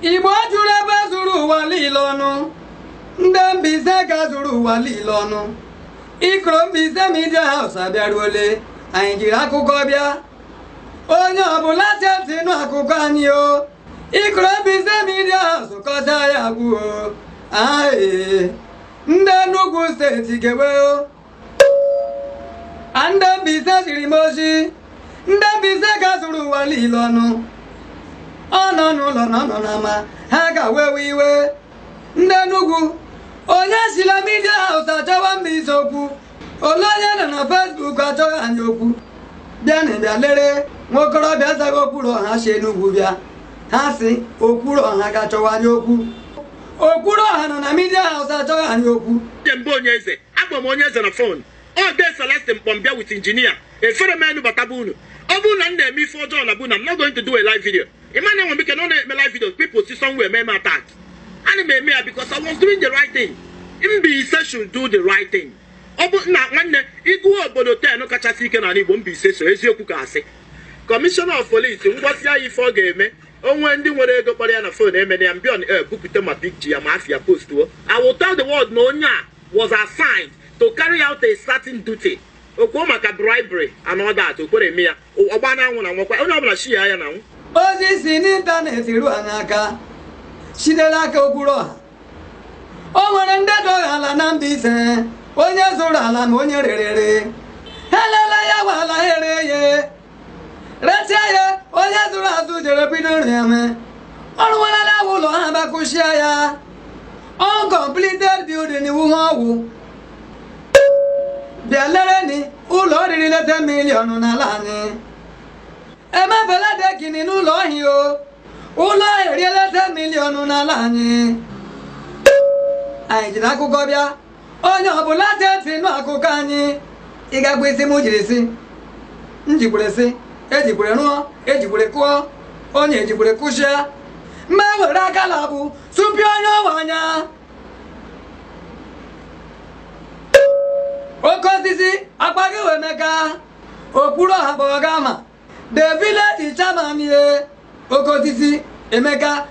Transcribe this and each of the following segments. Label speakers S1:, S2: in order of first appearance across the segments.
S1: Igbo juru ebe zuru ụwa niile ọnụ ndị Mbaise ka zuru ụwa niile ọnụ ikoro Mbaise Media House abịaruole anyị jiri akụkọ bịa onye ọbụla chee ntị nụ akụkọ anyị o ikoro Mbaise Media House kọcha ya gwuo ae ndị Enugu steeti gewe o ndị Mbaise ziri m ozi ndị Mbaise ka zuru ụwa niile ọnụ ọ nọ n'ụlọ na ọ nọ n'ama ha ga-wewe iwe ndị Enugu onye si la Media House achọwa Mbaise okwu olee onye nọ na Facebook achọgha anyị okwu bịanụ bịa lere nwa okorobịa na-azagha Okwuru ọha si Enugu bịa ha sị Okwuru ọha ga-achọwa anyị okwu Okwuru ọha nọ na Media House achọgha anyị okwu kemgbe onye eze Agwa m onye eze na phone ọ dee Celeste Mkpọmbịa with injinia efere m enu bataba unu ọ bụrụ na m na-eme ife ọjọọ na bụ na I'm not going to do a live video ị ma na enwe m ike nọ na-eme live video people si somewhere mee m attack ana m eme ya because I was doing the right thing Mbaise should do the right thing ọ bụ na nwanne ị gụwa obodo ten kachasị ike n'ala Igbo Mbaise so eziokwu ka a sị commissioner of police m gwasị ya ife ọ ga-eme o nwee ndị nwere ego kpọrọ ya na phone emere ya mbion e bupụta ma big ji ya ma afia postuo I will tell the world na onye a was assigned to carry out a certain duty o kwuo maka bribery and all that okwere eme ya ọgba na anwụ na nwakwa onye ọbụla shi ya ya na anwụ ozi si n'ịntanetị ruo ha n'aka sitere aka Okwuru ọha o nwere ndị dọgha ala na Mbaise onye zụrụ ala na onye rerere ha elela ya bụ ala ha ere ya retie ya onye zụrụ azụ jere bido rịame ọ rụwala ụlọ ha ba kụsịa ya uncompleted building iwu ha ọ wụ bịa lereni ụlọ oriri leta miliọnụ n'ala anyị emebela dekini n'ụlọ ọhịa o ụlọ erieleta miliọnụ n'ala anyị anyị jiri akụkọ bịa onye ọbụla chee ntị nụ akụkọ anyị ị ga-agwa isi m jiri si m jikwere si ejikwere rụọ ejikwere kụọ onye ejikwere kụsịa m ewere aka labụ supịa onye ọ wụ anya Okosisi akpaghị wụ Emeka Okwuru ọha bụ ọ ga-ama the village chairman ye Okosisi Emeka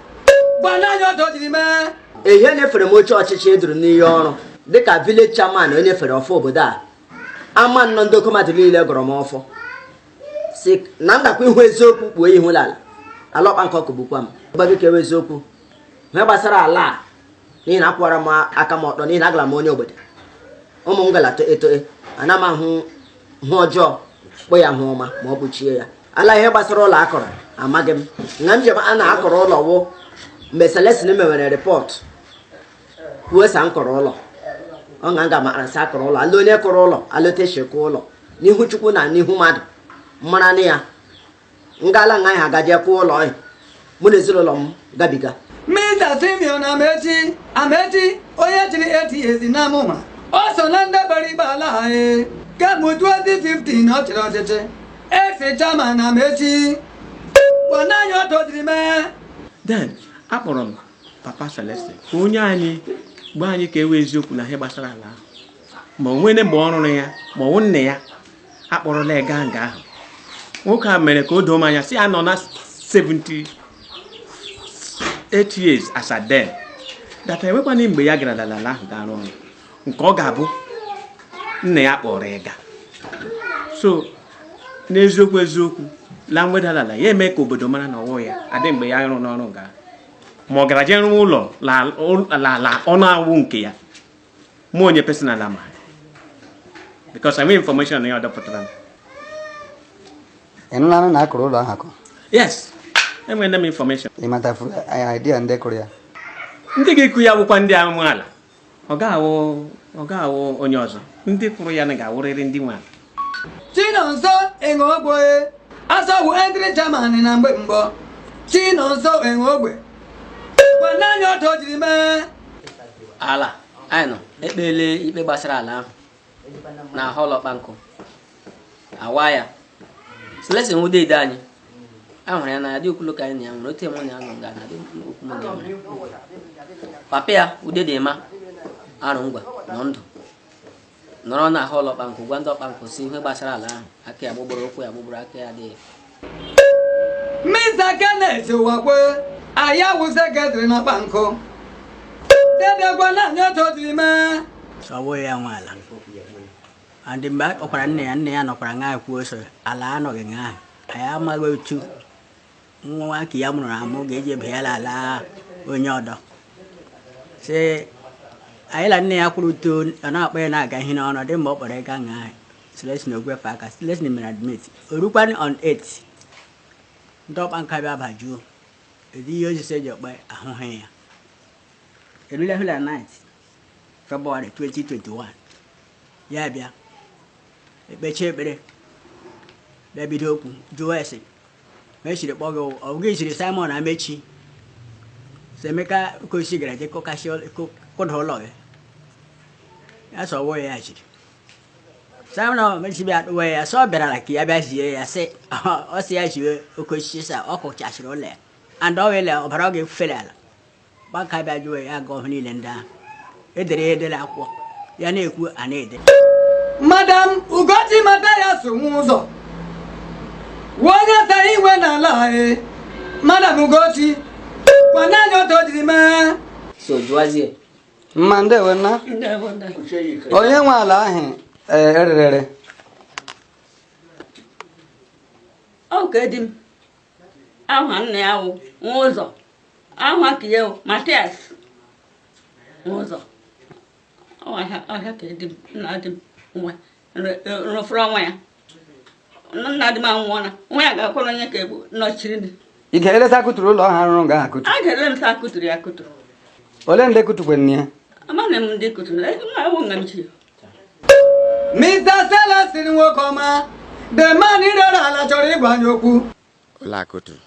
S1: gbana anyị ọdọ jiri mee ehe e nyefere m oche ọchịchị e duru m iyi ọrụ dịka village chairman e nyefere ọfọ obodo a ama nnọ ndị okomadụ niile gọrọ m ọfọ sị na ndakwa ihu eziokwu kpuo ihu lala ala ọkpa nke ọkụ bụkwa m gbago kewe eziokwu ihe gbasara ala a n'ihi na akwụwara m aka m ọtọ n'ihi na agara m onye obodo ụmụ m galata eto e, ana m ahụ ihe ọjọọ kpọọ ya ihe ọma ma ọ kpuchie ya ala ihe gbasara ụlọ a kụrụ amaghị m na njem na a kụrụ ụlọ wụ mgbe Celestine mewere report kwuo sa m kụrụ ụlọ ọ na nga mara sa a kụrụ ụlọ ala onye kụrụ ụlọ alọtechekwa ụlọ n'ihu chukwu na n'ihu mmadụ mara na ya ngala nga ha gaje kụọ ụlọ ọhịa mụ na ezinụlọ m gabiga Mr. Simeon Amechi Amechi onye chịrị 8 years na amụma o so na ndị gbara ikpe ala ahụ kemgbe 2015 ọ chịrị ọchịchị as chairman Amechi gwanụ anyị otu o jiri mee then akpọrọ m papa Celestine ka o nye anyị gwa anyị ka e wee eziokwu na ihe gbasara ala ahụ ma o nwere mgbe ọ rụrụ ya ma ọ wụ nna ya a kpọrọla ya gaa nga ahụ nwoke a mere ka o doo m anya sị ya nọ na 78 years as at then that enwekwana mgbe ya gara la ala ahụ gaa rụọ ọrụ nke ọ ga-abụ nna ya kpọrọ ya gaa so n'eziokwu eziokwu la mwedalala ya eme ka obodo mara na ọ wụ ya adị mgbe ya rụrụ ọrụ nga ma ọ gara jee rụwa ụlọ la la- la ọ na-awụ nke ya mụ onye personal amaghị because enweghị information na ya ọdọpụtara m ịnụlanụ na a kụrụ ụlọ ahụ akụ yes enwere m information ịmata idea ndị kụrụ ya ndị ga-akụ ya bụkwa ndị amaala ọ ga-awụ onye ọzọ ndị kụrụ ya na ọ ga-awụrịrị ndị nwe ala Chinonso Enogbe as ọ bụ interim chairman na mgbe mbụ Chinonso Enogbe gwanụ anyị otu o jiri mee ala anyị nọ ekpele ikpe gbasara ala ahụ na hall Ọkpankụ awa ya Celestine ude ide anyị a hụrụ ya na adị okwulu ka anyị na ya nwere otu mụ na ya nọ nga na adị okwu mụ na ya nwere papa ya ude dị ma arụ ngwa nọ ndụ nọrọ na hall Ọkpankụ gwa ndị Ọkpankụ sị ihe gbasara ala ahụ aka ya gbugburu ụkwụ ya gbugburu aka ya adịghị Mr. Kenneth Uwakwe ọ ya wụ secretary na Ọkpankụ dede gwanụ anyị otu o jiri mee ọ bụghị ya nwe ala andị mgbe ọ kwara nne ya nne ya nọkwara ngaa kwuo sị ala anọghị ngaa anyị amaghị otu nwa nwoke ya mụrụ amụ ga-eji bịa la ala onye ọdọ sị anyị na nne ya kwuru otu ọ na-akpọ ya na-aga ihe n'ọnụ dị mgbe ọ kpọrọ ya gaa nga Celestine ogwefe aka Celestine mere admit o rukwanị on 8 ndị Ọkpankụ bịa bajuo ezi ihe osisi eji ọkpa ahụhụ ya erule hụla 9 February 2021 ya bịa e kpechie ekpere bịa bido okwu jụwa ese ma esiri kpọọ gị ọ gị ziri Simon Amechi sị Emeka Ukosi gara je kụkasị kụda ụlọ gị ya sị ọ wụ ya chiri Simon Amechi bịa kpụwa ya sị ọ bịarala ka ya bịa zie ya sị ọ sị ya jiwe Ukosi sị ọ kụchasịrị ụlọ ya and ọ wele ọbara ọ ga-efufere ala gbaka bịa jụọ ya aga ọhụ niile ndị ahụ edere ya edere akwụkwọ ya na-ekwu a na-ede madam ugochi Matias Nwaụzọ wụ onye tara iwe n'ala anyị madam ugochi kọwara anyị otu o jiri mee so jụwazie mma ndewo nna onye nwe ala ahụ ee, ererere ọ ka di m aha nna ya wụ Nwaụzọ Aha ka ya Matias Nwaụzọ ọhịa ka di m nna di m nwa rụfụrụ onwe ya nna di m anwụọla nwa ya ga-akwụrụ onye ka egbu nọchiri m ị ga-eleta akụtụrụ ụlọ ọha rụrụ nga akụtụ a ga-ele m sị a kụtụrụ ya akụtụrụ ole ndị kụtụkwanụ ya amaghị m ndị kụtụrụ ya ma ọ wụ nga m chi Mr. Celestin Nwokoma the man ịrịọrọ ala chọrọ ịgwa anyị okwu ụlọ akụtụrụ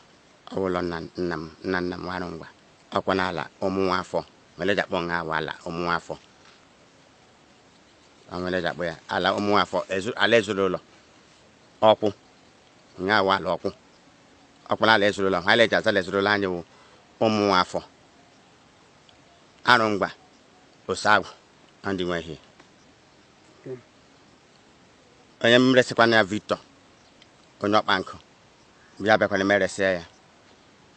S1: Ọ wụ ala nna nna m, nna nna m Arụngwa. Ọ kwa n'ala ụmụ nwa afọ. Nwere eji akpọ nga ahụ ala ụmụ nwa afọ. Ọ nwere eji akpọ ya ala ụmụ nwa afọ, ezu, ala ezinụlọ. Ọkwụ. Nga a wụ ala ọkwụ. Ọ kwa n'ala ezinụlọ. Ha eji aza ala ezinụlọ anyị wụ ụmụ nwa afọ. Arụngwa, osagwụ, ọ ndị nwe ihe. Onye m resịkwanụ ya Victor, onye ọkpa nkụ. ya bịakwana m eresịa ya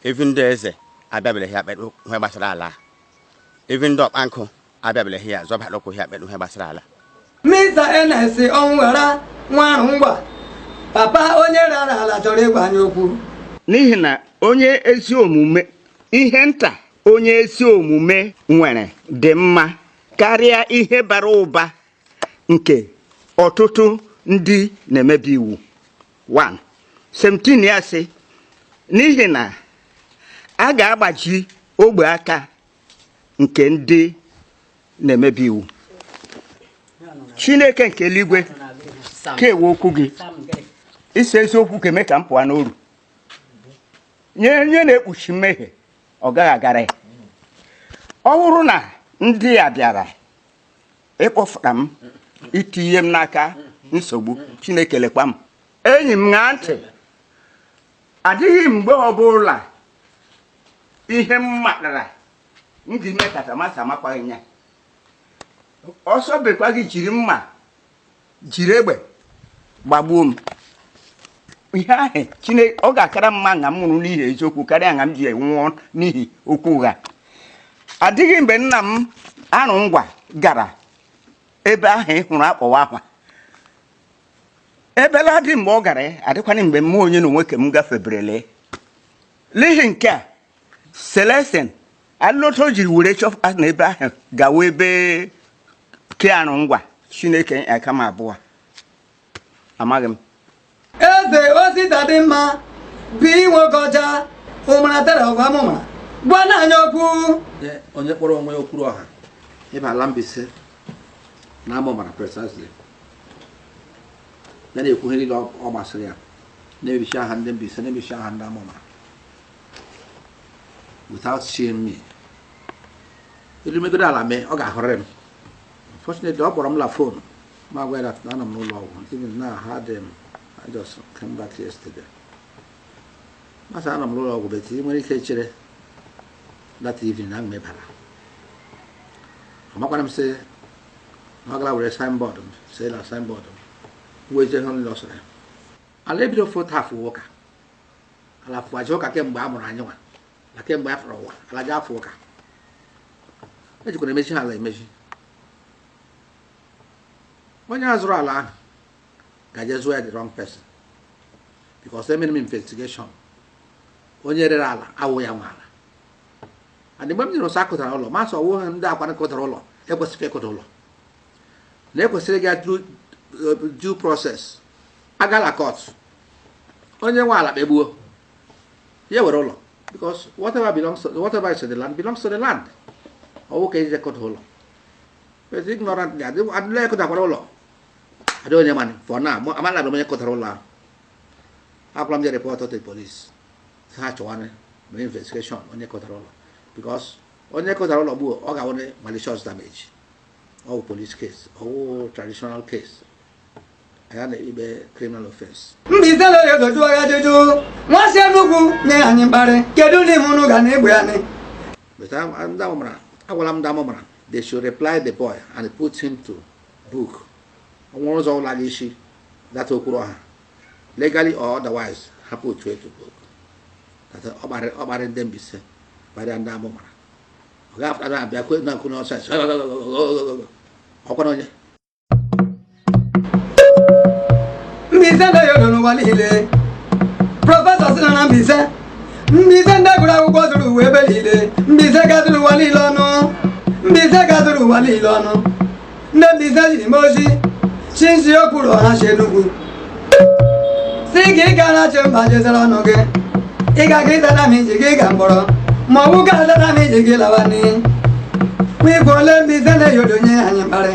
S1: even ndị eze abịabereghị akpere ihe gbasara ala even ndị ọkpa nkụ abịabereghị ya zọbara ụkwụ ya akpere ihe gbasara ala Mr. Ernest Ọnwụghara nwa Arụngwa papa onye rara ala chọrọ ịgwa anyị okwu n'ihi na onye ezi omume ihe nta onye ezi omume nwere dị mma karịa ihe bara ụba nke ọtụtụ ndị na-emebi iwu 17 ya sị n'ihi na a ga-agbaji ogbe aka nke ndị na-emebi iwu chineke nke eluigwe ka ewe okwu gị isi eziokwu ka eme ka m pụọ n'oru onye na-ekpuchi mmehie ọ gaghị agara ya ọ bụrụ na ndị a bịara ịkpọfụta m itinye m n'aka nsogbu chineke lekwa m enyi m ṅaa ntị adịghị mgbe ọbụla ihe m matara m ga ime kata ma sị amakwaghị ya ọsọ bekwa gị jiri mma jiri egbe gbagbuo m ihe ahụ chineke ọ ga-akara mma na m nwụrụ n'ihi eziokwu karịa na m ji nwụọ n'ihi okwu ụgha adịghị mgbe nna m Arungwa gara ebe ahụ ị hụrụ akpọwa akwa ebela dị mgbe ọ gara ya adịkwanụ mgbe mụ onye na onwe ke m gafeberele n'ihi nke a Celestine alụlọta o jiri were chọpụta na ebe ahụ gawa ebe ke Arungwa chineke aka m abụọ amaghị m Eze Ositadịmma bụ Nwokocha Ụmara third of Amụmara gwa na anya okwu onye kpọrọ onwe ya Okwuruọha ịba ala Mbaise na Amụmara precisely ya na-ekwu ihe niile ọ gbasịrị ya na-ebichi aha ndị Mbaise na-ebichi aha ndị Amụmara without seeing me elu megodu ala mee ọ ga-ahụrịrị m unfortunately ọ kpọrọ m la fon m agwa ya that na anọ m n'ụlọ ọgwụ even now ha dị m I just came back yesterday m asị anọ m n'ụlọ ọgwụ but ị nwere ike chere that evening na mmebara amakwara m sị na ọ gara were signboard m sị na signboard m wee jee hụ ndị ọsọ ya ala ebido foto afụ ụka ala fụwazi ụka kemgbe a mụrụ anyị nwa na kemgbe a fụrụ ụwa ala ji afụ ụka ejikwanụ emezi ha ala emezi onye a zụrụ ala ahụ gaje zụọ ya the wrong person because emere m investigation onye rere ala awụ ya nwe ala and mgbe m nụrụ sị ọ kụdara ụlọ m asị ọwụ ndị akwa kụdara ụlọ ekwesịghị ịkụda ụlọ na ekwesịrị ịga due process a gala court onye nwe ala kpegbuo ya were ụlọ because whatever belongs to whatever is in the land belongs to the land ọwụ ka eji akụda ụlọ but ignorant dị adị adịla akụdakwara ụlọ adị onye mani for now mụ- amala abịa onye kụdara ụlọ ahụ agwara m jee report to the police sị ha chọwanị mee investigation onye kụdara ụlọ because onye kụdara ụlọ gbuo ọ ga-awụ malicious damage ọwụ police case ọwụ traditional case ya na ikpe criminal offense Mbaise lee ya dojuo ya ajụjụ nwa si Enugwu na-enye anyị mkparị kedu ndị hụrụ ga na egbe anyị but a- ndị Amụmara agwala m ndị Amụmara they should reply the boy and put him to book o nwere ụzọ ụlọ gị isi data Okwuruọha legally or otherwise ha put him to book That ọ gbara- ọ gbara ndị Mbaise gbarịa ndị Amụmara ọ ga-apụta na abịa kwe na nkụ n'ọsọ ọkwa na onye Mbaise ndị ya nọ n'ụwa niile prọfesọ si nọ na Mbaise Mbaise ndị gụrụ akwụkwọ zuru ụwa ebe niile Mbaise gazuru ụwa niile ọnụ Mbaise gazuru ụwa niile ọnụ ndị Mbaise jiri mee ozi chi nzi okwuru ọha si Enugu sị gị ị ga na-achị mba jezere ọnụ gị ị ga gị tara m iji gị ga mkpọrọ ma ọ bụ ga tara m iji gị lawa n'iyi ma igwe ole mgbe ize na-eyodonye anyị mkparị